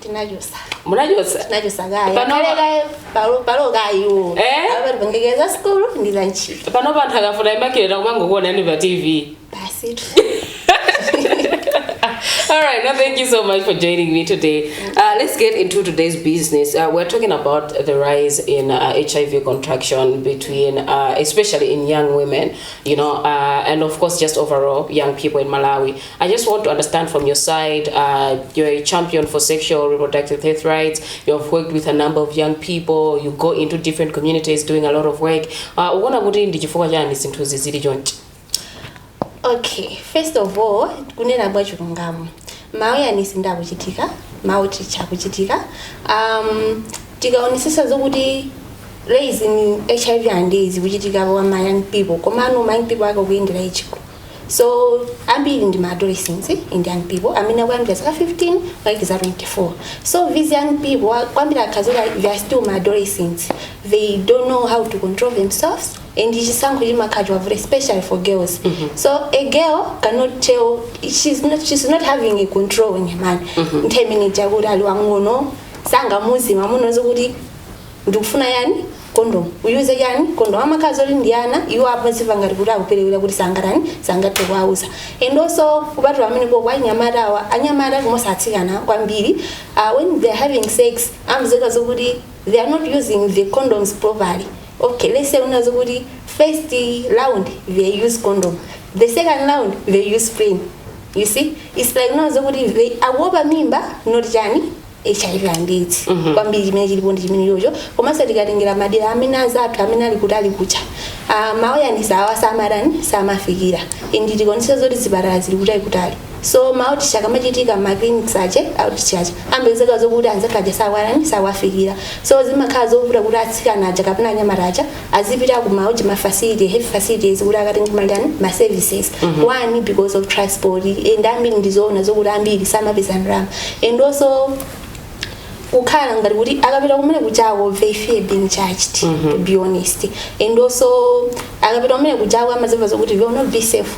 tinachosa munachosa tinachosa kaya Pano- kale kaya palo palo kayo Eh? apa tipangekeza school ndi za ntchito pano panthu akafuna imakileta kumangokuona ni pa tv basi tu All right, no, thank you so much for joining me today. Uh, let's get into today's business. Uh, we're talking about the rise in uh, HIV contraction between, uh, especially in young women, you know, uh, and of course, just overall young people in Malawi. I just want to understand from your side, uh, you're a champion for sexual reproductive health rights. You have worked with a number of young people. You go into different communities doing a lot of work. Uh, ukuona kuti ndi chifukwa chani zinthuzi zili chonchi? okay first of all kunena mwa chilungamo ma awareness ndi akuchitika ma outreach akuchitika um, tikaonesesa zokuti raising hiv and aids ikuchitika kwa ma young people komano ma young people ake akuyendera ichiko so ambiri ndi ma adolescents and young people amene akuyambira zaka 15 kulekeza 24 so these young people wa- kwambiri amakhala zokuti they are still ma adolescents they don't know how to control themselves and chisankho chimakhala chiwavuta especially for girls so a girl cannot tell she's not, she's not having a control in a man nthawi imene chakuti ali wang'ono sangamuuze mamuna zokuti ndikufuna chani kondomu uyuze chani kondomu amakhala zoti ndi ana iwo amazimva ngati kuti akuperewera kuti sangatani sangathe kuwauza and also kupatula kumeneko anyamata awa anyamata komanso atsikana kwambiri uh, when they are having sex amapezeka zokuti they are not using the condoms properly okay let's say kunena zokuti first round they use condom the second round they use plain you see it's like kunena zokuti they akuopa mimba not chani hiv and aids kwambiri chimene chilipo ndi chimenechocho komanso tikatengera madera amene azathu amene ali kutali kuja ah, ma awareness awa samatani samafikira and tikaonesa zoti zipatala zili kutali kutali so ma outreach akamachitika ma clinics aja outreach aja amapezeka zokuti anzathu aja sawatani sawafikira so zimakhala zovuta kuti atsikana aja kapena anyamata aja azipita ku ma uja ma facility health facilities kuti akatenge matani ma services one because of transport and ambiri ndizoona zokuti ambiri samapeza ndalama and also kukhala ngati kuti akapita kumene kujako they fear being judged to be honest and also akapita kumene kujako amazimva zokuti they will not be safe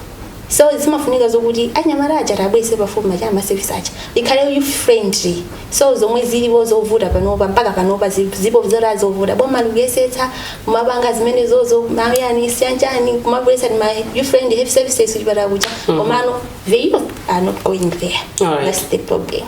so zimafunika zokuti anyamata aja tiwabweretse pafupi ma chani masevisi aja zikhale youth friendly so zomwe zilipo zovuta panopa mpaka panopa zi- zipo zota zovuta boma likuyesetsa kumapanga zimenezozo ma awareness and chani kumabweretsa ni ma youth friendly health services kuchipatala kuja komano the youth are not going there Alright. that's the problem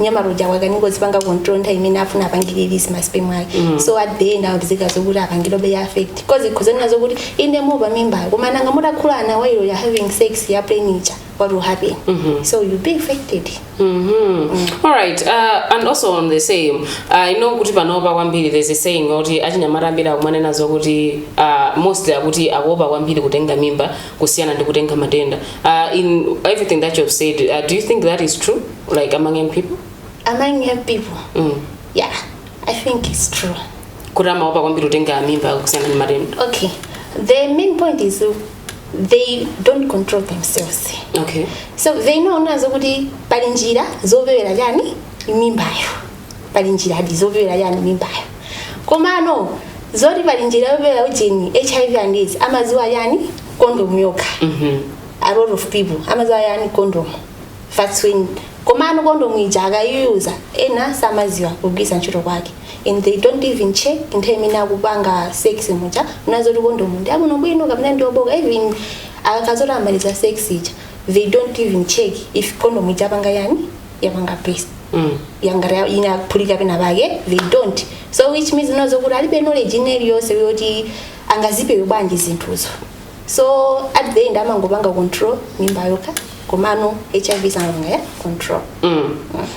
mnyamata uja wakanika kuzipanga control nthawi imene afuna apange release ma sperm ake mm. so at the end akupezeka zokuti apangidwabe affect cause ukhoza kunena zokuti inde mumaopa mimba koma nanga mutakhulana while you're having sex ya plain ija what will happen mm -hmm. so you'll be affected mm -hmm. mm. all right uh, and also on the same uh, i know kuti panopa kwambiri there's a saying kuti achinyamata ambiri akumanena zokuti uh, mostly akuti akuopa kwambiri kutenga mimba kusiyana ndi kutenga matenda uh, in everything that you've said uh, do you think that is true Like among young people? among young people Mm. yeah i think it's true Kuti amaopa kwambiri kutenga mimba kusiyana ndi matenda. okay the main point is uh, they don't control themselves Okay. so they know nazo kuti pali njira zopewera chani mimbayo pali njiradi zopewera chani mimbayo komano zoti pali njira yopewera ujeni hiv and aids amaziwa chani kondomu yokha Mhm. a lot of people amaziwa chani kondomu that's when komano kondomu ija akayiyuza ena samaziwa kugwiritsa ntchito kwake and they don't even check nthawi imene akupanga sex muja unazoti kondomu ndi abwino bwino kapena ndi obooka even akakazoti amaliza sex ija they don't even check if kondomu ija yapanga chani yapanga burst Mm. yangati inaphulika pena pake they don't so which means unazo kuti alibe knowledge ina iliyonse yoti angazipewe bwanji zinthuzo so at the end amangopanga control mimba yokha komano hiv sangapange control Mm.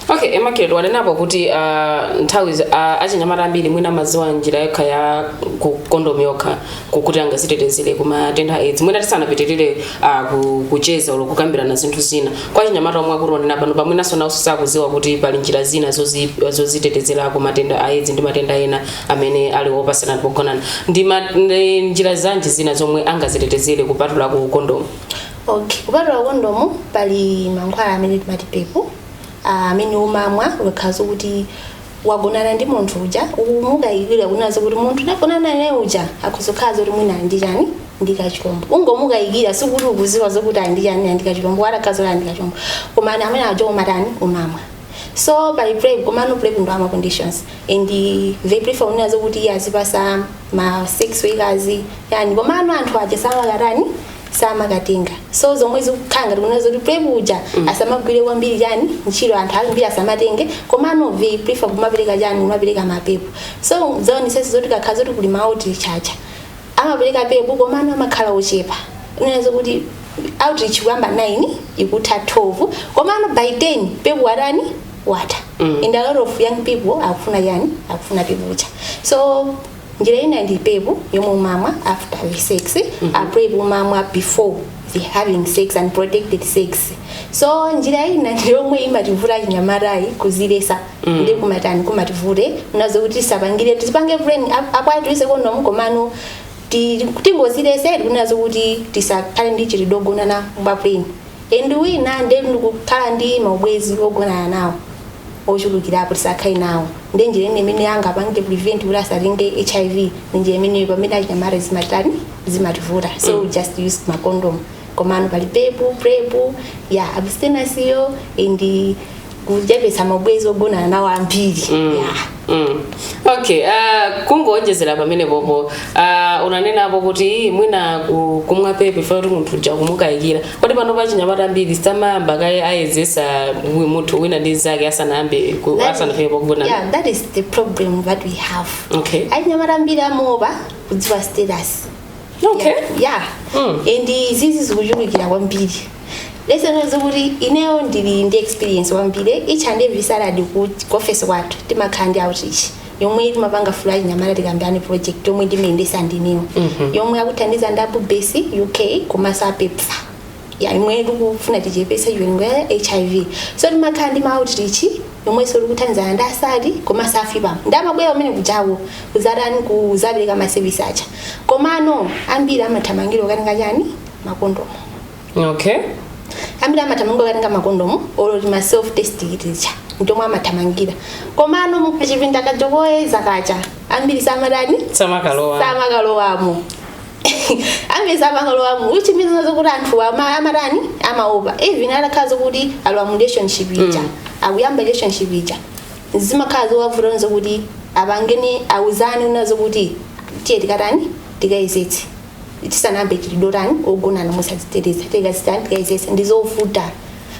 okay immaculate wanenapo kuti uh, nthawi za- a- achinyamata ambiri mwina amaziwa njira yokha ya ku- kondomu yokha kukuti angazitetezere kumatenda a aids mwina tisanapitirire uh, ku- kucheza olo kukambirana zinthu zina kwa achinyamata omwe akutiwonera pano pamwinanso nawo sakuziwa kuti pali njira zina zozi- zozitetezera ku matenda a aids ndi matenda ena amene ali opasana pogonana ndi ma- ndi njira zanji zina zomwe angazitetezere kupatula ku kondomu Okay. Kupatula kondomu pali mankhwala amene timati pep ah, amene umamwa ukakhala zokuti wagonana ndi munthu uja umukayikira kunazo kuti munthu ndagonana naye uja akhoza kukhala zoti mwina ali ndi chani ndi kachilombo ungomukayikira sikuti ukuziwa zokuti ali ndi chani ali ndi kachilombo wala khazo ali ndi kachilombo koma ana amene aja umatani umamwa so pali prep komano prep ndi wa ma conditions and they prefer kunena zokuti iye azipasa ma sex workers chani komano anthu aja samakatani samakatenga so zomwe zikukhala ngati kunena zoti prep uja asamagwire kwambiri chani ntchito anthu ambiri asamatenge komano they prefer kumapereka chani kumapereka ma pep so zaonesesa zoti kukakhala zoti kuli maoutreach aja amapereka pep komano amakhala ochepa kunena zokuti outreach kuyamba 9 ikutha 12 komano by 10 pep watani watha and a lot of young people akufuna chani akufuna pep uja so njira ina ndi pep yomwe umamwa after having sex a prep umamwa before the having sex unprotected sex so njira ina ndi yomwe imativuta achinyamata ndi kuzilesa ndi kumatani kumativute unazo kuti tisapangire tizipange plain akwati ise kondomu komano ti- tingozilese tikunazo kuti tisakhale ndi mchitidwe ogonana mwa plain and wina nde ndi kukhala ndi maubwezi ogonana nawo ochulukirapo tisakhale nawo nde njira ina imene angapange prevent kuti asatenge hiv ndi njira imeneyo pamene achinyamata zimatitani zimativuta so we just use macondom komano pali pepu prepu ya abstinasiyo and kuchepetsa maubwenzi ogonana nawo ambiri yeah. Mm. okay uh, kungowonjezera pamene popo uh, unanenapo kuti mwina ku- kumwa pepu ifuna kuti munthu uja kumukayikira kodi panopa achinyamata ambiri samayamba kaye ayezesa wi- munthu wina ndi nzake asanayambe ku- That is- asanafike pokugonana yeah, that is the problem that we have okay achinyamata ambiri amaopa kudziwa status okay yeah, yeah. Mm. and izizi zikuchulukira kwambiri reason yake kuti ineyo ndili ndi experience kwambiri each and every saturday kuti kuofesi kwathu timakhala ndi outreach yomwe timapanga ya Fula achinyamata tikambirane project yomwe ndimayendesa ndiniwo yomwe akuthandiza ndi abubesi uk komanso apepfa ya yomwe tikufuna tichepese chiwerengero cha hiv so timakhala ndi maoutreach yomwenso tikuthandizana ndi asali komanso afipa nde amabwera umene kujawo kuzatani kuzapereka masevisi aja komano ambiri amathamangira kukatenga chani makondomu okay ambiri amathamangira kukatenga makondomu olo tima self test kitija ntomwe amathamangira komano mukachipinda kaja koyezera kaja ambiri samatani samakalowa samakalowamo ambiri samakalowamo which means kunena zoti anthu ama- amatani amaopa even atakhala zokuti alowa mu relationship ija akuyamba relationship ija zimakhala zowavuta kunena zoti apangane auzane kunena zoti tiye tikatani tikayezetse tisanayambe mchitidwe wotani ogonana mosadziteteza tikazitani tikayezesa ndizovuta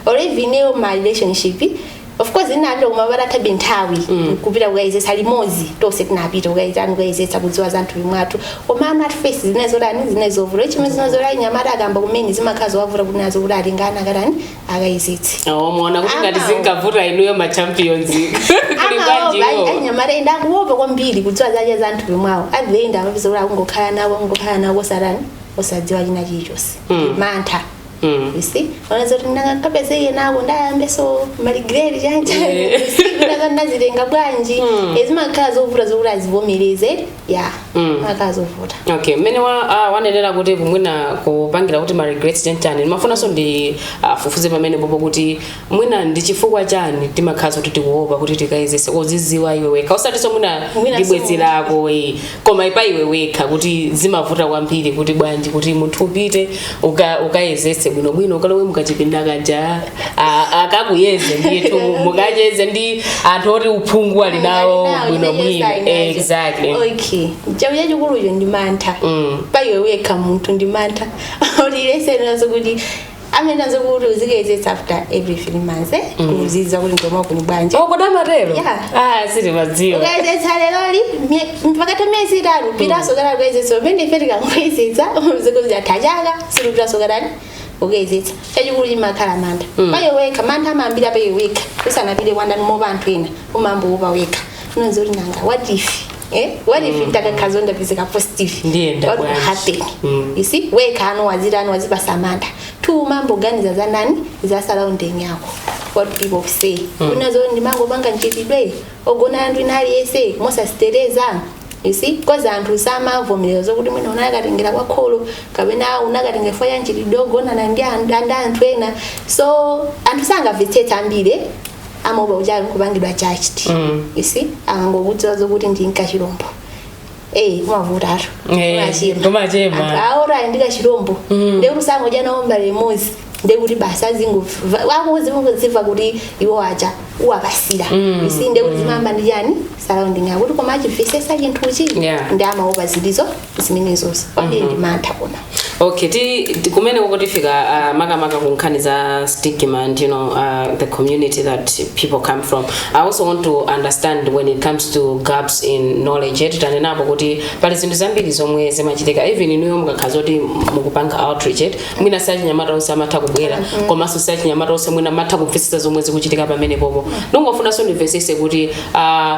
or even ineyo my relationship of course tinapita koma patathabe nthawi kupita kukayezesa limodzi tonse tinapita kukatani kukayezesa kudziwa za mthupi mwathu koma at first zimene zotani zimene zovuta chimene zimene zotani nyamata akayamba kumene zimakhala zowavuta kunena zokuti atengane akatani akayezetse awo muona kuti ngati Amawo. zingavuta inuyo ma champions kuli bwanji iwo anyamata ena akuopa kwambiri kudziwa zache za mthupi mwawo nde ena amapeza kuti akungokhala nawo akungokhala nawo kosatani osadziwa china chilichonse Mm. mantha Mm. you see kunena zoti ndikakapezeka nako ndayambanso maregret chancha Yeah. ndakatenga bwanji Mm. nde zimakhala zovuta zokuti azivomereze ya Mm. zimakhala zovuta okay mmene wa- ah, wanenera kuti mwina kupangira kuti ma regrets ntani ndimafunanso ndifufuze pamene popo kuti mwina ndi chifukwa chani timakhala zokuti tikuopa kuti tikayezese kuziziwa iwe wekha osatinso mwina Mwina ndi bwenzi so- lako eh, koma ipa iwe wekha kuti zimavuta kwambiri kuti bwanji kuti munthu upite uka ukayezetse bwinobwino ukalowe mukachipinda kaja a- akakuyeze ndithu mukacheze ndi anthu oti uphungu ali nawo bwinobwino exactly okay chachikulucho ndi mantha Mm. pa iwe wekha munthu ndi mantha ulirese nazo kuti amanena zokuti uzikayezetsa after every three months eh? kudziwa kuti ndomwa kuli bwanji okonda matero Yeah. ah sitimadziwa ukayezetse leroli pakatha miyezi itatu upitaso kana kuyezetsa pamene ife tikangoyezetsa mwinatu atha chaka sitipitaso kanani kuyezetsa chachikulu chimakhala mantha pa iwe wekha mantha amayambira pa iwe wekha usanapite kwa ndani kuopa anthu ena umayamba wopa wekha unena zokuti nanga what if Eh? what if ntakakhazo ndapezeka positive what will happen Mm. you see wekha wazipatsa mantha two umayamba kuganiza za nani za surrounding yako what people say kunena zoti ndimangopanga mchitidwe ogonana ndi wina aliyense mosaziteteza you see because anthu samavomereza zokuti mwina unakatengera kwa kholo kapena unakatengera chifukwa cha mchitidwe ogonana ndi an- ndi anthu ena so anthu sangamvetsetsa ambiri amaopa kuti akupangidwa judged you see akangokudziwa zokuti uli n'kachilombo eyi kumavuta anthu Eh, kumachema. Anthu awo ali ndi kachilombo ndi kuti sangodya nawo mbale imodzi ndi kuti basi azingomva akudziwa kuti iwo aja uwapatsira you see ndi kuti zimayamba ndi chani surrounding yako kuti koma achimvetsetsa chinthuchi Yeah. ndiye amaopa zilizo zimenezozi kwambiri ndi mantha koma okay ti ti- kumeneko tifika uh, makamaka ku nkhani za stigma and you know uh, the community that people come from i also want to understand when it comes to gaps in knowledge eti tanenapo kuti pali zinthu zambiri zomwe zimachitika even inuyo mukakhala zoti mukupanga outreach eti mwina si achinyamata onse amatha kubwera komanso si achinyamata onse mwina amatha kumvetsetsa zomwe zikuchitika pamenepopo ndingofunanso ndimvetsetse kuti uh,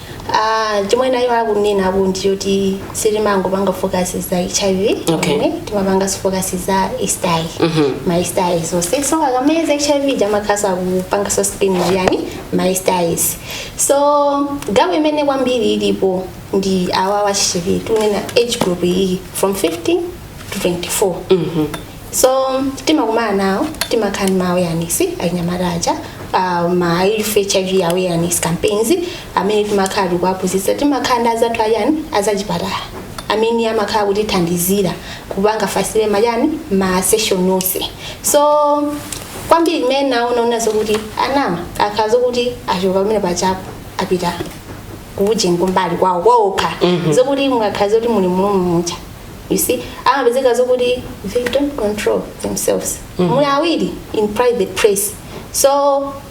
Ah, chomwe nawo akunenako ndi choti sitimangopanga focus za hiv Okay. timapangaso focus za sti ma stis onse so akamayeza hiv ija amakhalaso akupangaso screen chani ma stis so gap imene kwambiri ilipo ndi awa achichepere tikunena age group iyi from 15 to 24 so timakumana nawo timakhala ndi ma awareness achinyamata aja uh, ma youth hiv awareness campaigns amene timakhala tikuwaphunzitsa timakhala ndi azathu ayani azachipatala amene amakhala kutithandizira kupanga facilitate ma chani ma session onse so kwambiri imene ndaona kunena zokuti ana amakhala zokuti achoka pamene paja po apita ku ujeni kumbali kwawo kwaokha zokuti mukakhala zoti muli mulumucha you see amapezeka zokuti they don't control themselves mm. muli awiri in private place so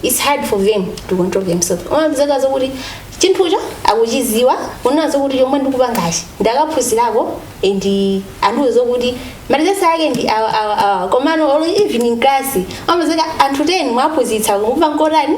it's hard for them to control themselves amapezeka zokuti chinthucho akuchiziwa kunena zokuti chomwe ndikupangachi ndakaphunzirako and andiwe zokuti madisease ake ndi awa awa awa komano olo even in class amapezeka anthu 10 mwaphunzitsa kukupanga kotani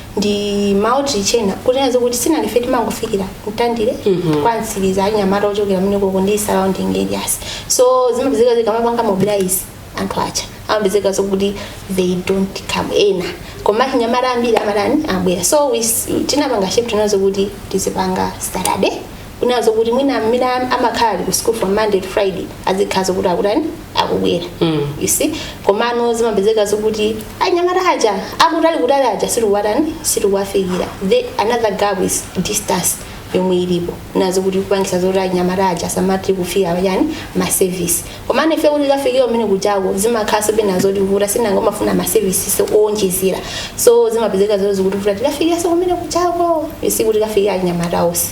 ndi maoutreach ena kuti kunena zokuti sinanga ife timangofikira mtandire kwa mtsiriza anyamata ochokera komweko ndi surrounding areas so zimapezeka tikamapanga mobilize anthu aja amapezeka zokuti they don't come ena koma anyamata ambiri amatani abwera so we s- tinapanga shift kunena zokuti tizipanga saturday kunena zokuti mwina mmene am- amakhala ali ku school from monday to friday azikhala zokuti akutani akubwera Mm. you see komano zimapezeka zokuti anyamata aja akutali kutali aja sitikuwatani sitikuwafikira the another gap is distance yomwe ilipo kunena zokuti kupangisa zoti anyamata aja samati kufika pachani maservice komano ife kuti tikafikire kumene kujako zimakhala so penanso zotivuta sinanga umafuna maservices owonjezera so zimapezeka zoti zikutivuta tikafikira so kumene kujako isi kuti kafikira anyamata onse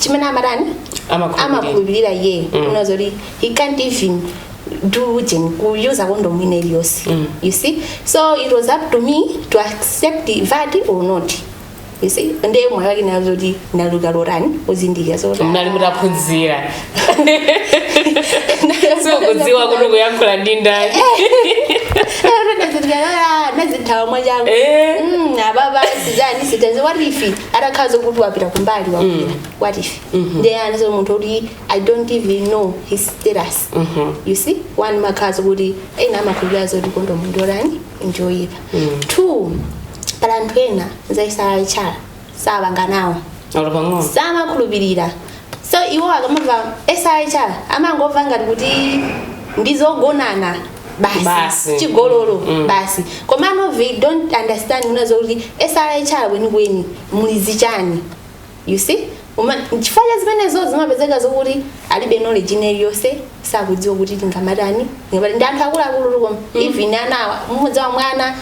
chimene amatani Amakhulupirira. amakhulupirira iyeyo kunena zoti he can't even do ujeni kuyuza kondomu ina iliyonse you see so it was up to me to accept that or not you see ndiye mwayo wake kunena zoti ndinali wotani wozindikira zoti ndinali nditaphunzira so kudziwa kuti kuyankhula ndi ndani ndinazithawa mwachangu Eh. Mm, ababa sizani status what if atakhala zokuti wapita kumbali wapita what if ndiye analinso munthu kuti i don't even know his status you see one umakhala zokuti ena amakhulupirira zoti kondomu ndolani ndiyoyipa two pali anthu ena za srhr sapanga nawo olo pang'ono samakhulupirira so iwo akamamva srhr amangomva ngati kuti ndizogonana Basi. basi chigololo Mm. basi komano they don't understand kunena zokuti srhr kwenikweni muli zichani you see Uma- nchifukwa cha zimenezo zimapezeka zokuti alibe knowledge ina iliyonse sakudziwa kuti tingamatani ngati ndi anthu akuluakulu koma even anawa m'mudzi wa mwana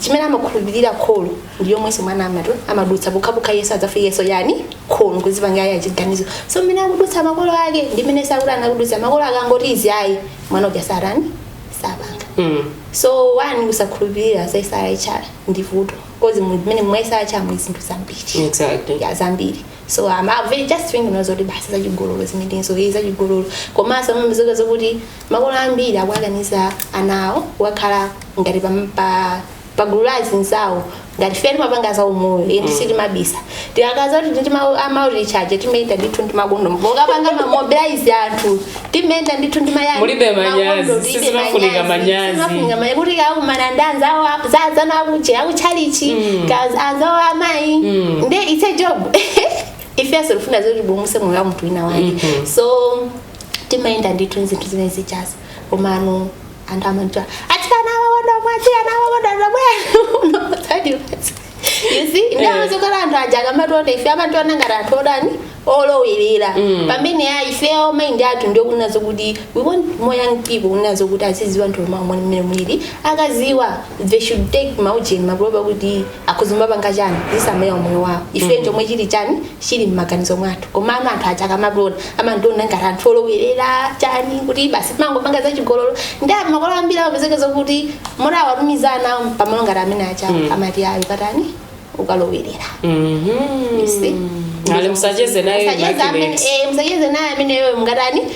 chimene amakhulupirira kholo ndi yomwenso mwana amatu amadutsa pokhapokha yesu adzafikenso yani kholo kuzipanga yekha chiganizo so mmene akudutsa makolo ake ndi mmene zokuti ana akudutsa makolo akangoti izi ayi mwana uja satani sapanga Mm. so one kusakhulupirira za srhr ndi vuto coz mmene mwa srhr muli zinthu zambiri Exactly. ya zambiri so um, I'm very just thinking zoti basi zachigololo zimenezo ndi zachigololo komanso mamizoka zokuti Makolo ambiri akuwakaniza ana awo kukakhala ngati pa, pa, pa gulu la azinzawo ngati ife timapanga za umoyo eti sitimabisa tikakhala zakuti ndi ma- a maoutreach aja timayenda ndithu ndi makondomu pokapanga mamobilize anthu timayenda ndithu ndi machani Mulibe manyazi, makondo, tilibe sizimafunika manyazi. sizimafunika manyazi kuti ukakumana ndi anzawo a- za anzanu akuche akuchalichi kaya anzawo amayi nde it's a job ifeso tifuna zoti tipulumutse moyo wa munthu wina wake so timayenda ndithu ndi zinthu zimene zijazo komano anthu amatidziwa atsikana amakondomu atsikana amakondomu Satisfies. you see ndawo zikhala anthu aja akamationa ife amationa ngati anthu otani olowerera pamene ya ifeyo maindi athu ndiye kunena zokuti we want more young people kunena zokuti aziziwa mthupi mwawo mmene muliri akaziwa they should take maujeni maproba kuti akuzimba panga chani azisamalira umoyo wawo ife chomwe chili chani chili m'maganizo mwathu komano anthu aja akamationa amationa ngati anthu olowerera chani kuti basi timangopanga zachigololo ndi anthu makolo ambiri amapezeka zokuti moti awatumiza ana awo pamalo ngati amene aja amati ayi ukatani ukalowerera You see? ali musacheze naye Musacheze amene- Immaculate. eh, musacheze naye ameneyo mungatani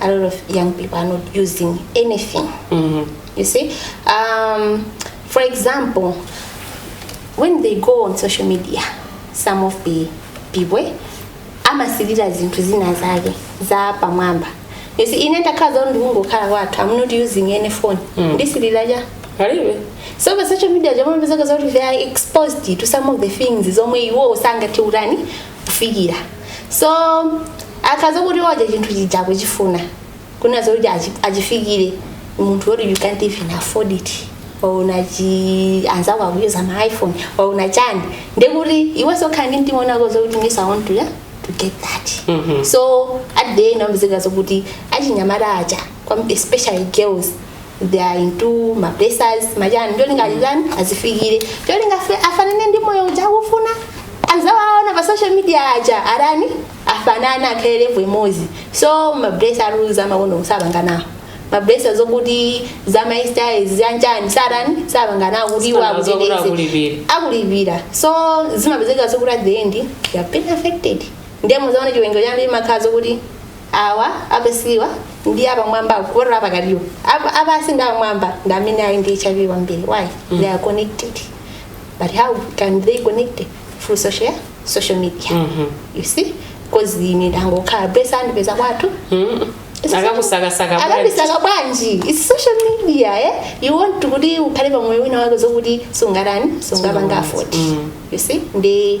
a lot of young people are not using anything mm-hmm. you see um, for example when they go on social media some of the people eh, amasilira zinthu zina zake za pamwamba you see ine ndakhala zoti ndikungokhala kwathu I'm not using any phone mm. ndisilira cha palibe so pa social media paja amapezeka zoti they are exposed to some of the things zomwe iwo sangathe utani kufikira so akakhala zokuti waja chinthu chija akuchifuna kunena zoti achi- achifikire munthu woti you can't even afford it waona chani anzako akuyuza ma iphone waona chani ndekuti iweso ukhala ndi mtima wina wake zokuti ineso I want to, yeah, to get that Mhm. so at the end amapezeka zokuti achinyamata aja kwam- especially girls they are into ma blessers machani ndi cholinga atani azifikire ndi cholinga afanane ndi moyo uja akufuna azawo awaona pa social media aja atani afanane akhale level imodzi so ma blesser rules a makondomu sapanga nawo ma blesser zokuti za ma styles zachani satani sapanga nawo kuti iwo Sapanga zokuti akuteteze akulipira. akulipira so zimapezeka zokuti at the end you have been affected nde muzaona chiwerengero chambiri chimakhala zokuti awa apasiwa ndi apamwamba kuposera apakatiwo Apa- apasi ndi apamwamba ndi amene ali ndi hiv kwambiri why they are connected but how can they connect through social social media you see because ine ndangokhala blesser andipeza kwathu akakusakasaka bwanji akakusaka bwanji its social media eh? you want to kuti ukhale pamoyo wina wake zokuti sungatani sungapange afford you see ndi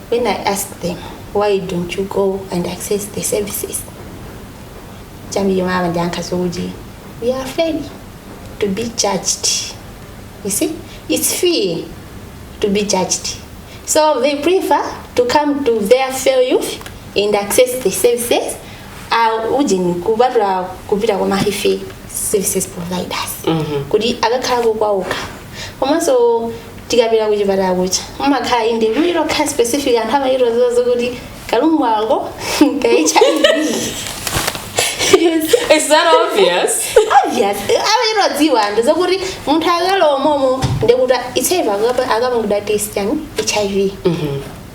When I asked them, why don't you go and access the services? Jambi yomwe amandiyankha zokuti, we are afraid to be judged. You see, it's fear to be judged. So they prefer to come to their fair youth and access the services uh, ujeni kubatula kupita kwa mahife services providers kuti akakhalako kwawoka komanso ukapita kuchipatala kucha umakhala inde lokhala specific anthu amachitodziwa zokuti karoom ako ka hiv Is that obvious? obvious amachitodziwa anthu zokuti munthu akalowa momo ndekuti itsepa akapangidwa test yani hiv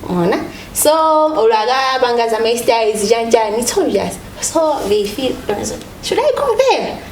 mwaona so olo akapanga za ma STIs chanchani it's obvious so they feel should i go there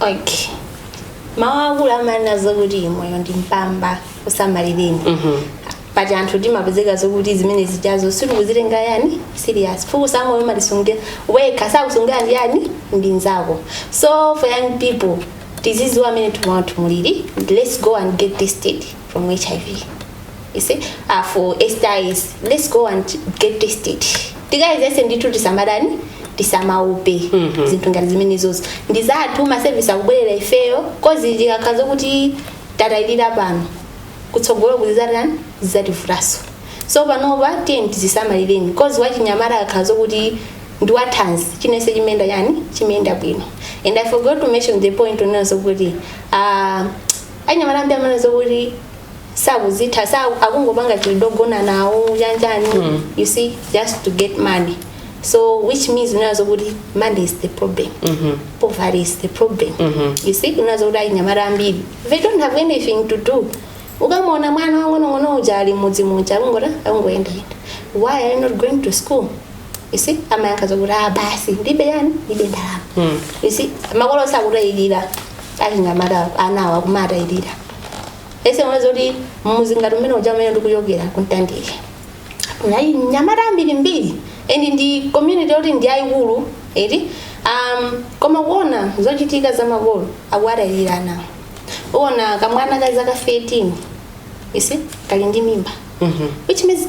okay mawu akulu amanena zokuti moyo ndi mpamba usamalireni but anthu timapezeka zokuti zimene zijazo sitikuzitengera yani serious fuko sa moyo umasungira wekha sakusungira ndi yani ndi nzako so for young people tizidziwa mmene tumawa tumuliri let's go and get tested for hiv you see uh, for stis let's go and get tested tikayezese ndithu tisamatani tisamaope zinthu ngati zimenezozo ndi zathu ma service akubwerera ifeyo coz tikakhala zakuti tatayirira pano kutsogolo kuzizatani zizativutanso so panopa tiyeni tizisamalireni coz wachinyamata akakhala zakuti ndi wathanzi chinachilichonse chimayenda yani chimayenda bwino and i forgot to mention the point yonena zokuti uh, achinyamata ambiri amaona zokuti sakuzitha sa akungopanga chidwi chogona nawo chanichani mm. you see just to get money so which means umaona zokuti money is the problem mm -hmm. poverty is the problem mm -hmm. you see umaona zokuti achinyamata ambiri they don't have anything to do ukamona mwana wamng'onong'ono uja ali m'mudzi muja akungota akungoyendayenda why are you not going to school You see, amayankha zokuti ah basi ndilibe yani ndilibe ndalama. Mm. You see, makolo akutayirira achinyamata anawa kumatayirira. I see mwina zokuti mudzi ngati umene uja umene ndikuchokera ku Mtandire. Ndi achinyamata ambirimbiri and ndi community yoti ndi yayikulu eti um, koma kuona zochitika za makolo akuwatayirira anawa. Uwona kamwana ka zaka 13 you see kali ndi mimba. Mhm. Which means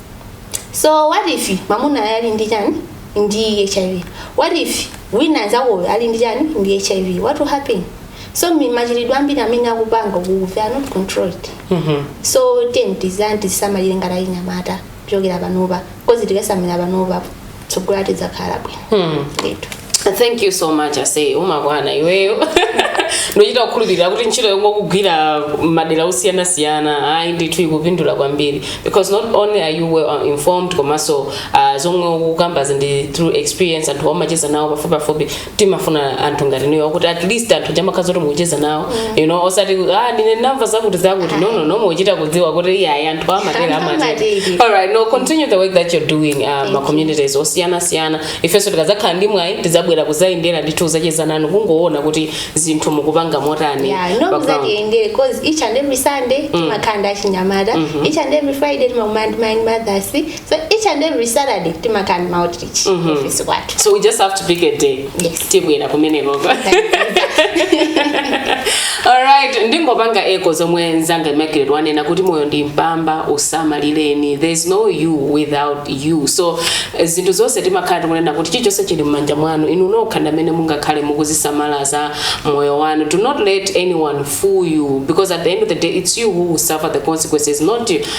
so what if mamunayo ali ndi chani ndi hiv what if mnzakoyo ali ndi chani ndi hiv what will happen so mi- machitidwe ambiri amene akupanga ukuku they are not controlled so tiyeni titani tizisamalire ngati achinyamata kuchokera panopa coz tikazisamalira panopa tsogolo lidzakhala bwino ndithu thank you so much aise umakwana iweyo ndochita kukhulupirira kuti ntchito yomwe ukugwira madera osiyanasiyana ayi ndithu ikupindula kwambiri because not only are you well informed komanso uh, zomwe ukukambazi ndi through experience anthu umacheza nawo pafupipafupi timafuna anthu ngati inuyo kuti at least anthu chamakadziwa zoti mukucheza nawo you know osati ah ndine ndamva zakuti zakuti no no no mukuchita kudziwa kuti iyayi anthu amatere Anthu amatere amatere. all right no continue the work that you're doing uh, ma communities osiyana siyana ifenso tikadzakhala ndi mwayi tidzabwera kuzayendera ndithu kuzacheza nanu kungoona kuti zinthu mukupanga motani Yeah, no background. muzatiyendere cause each and every sunday timakhala ndi achinyamata each and every friday timakumana ndi ma young mothers So each and every Saturday timakhala ndi ma outreach mm -hmm. office kwathu. So we just have to pick a day. Yes. Tibwera kumene koko. Alright, ndingopanga echo zomwe nzanga imakiridwa wanena kuti moyo ndi mpamba usamalireni. There is no you without you. So eh, zinthu zonse timakhala tikunena kuti chilichonse chili m'manja mwanu inu nokha ndi amene mungakhale mukuzisamala za moyo wanu. Do not let anyone fool you because at the end of the day it's you who will suffer the consequences not him.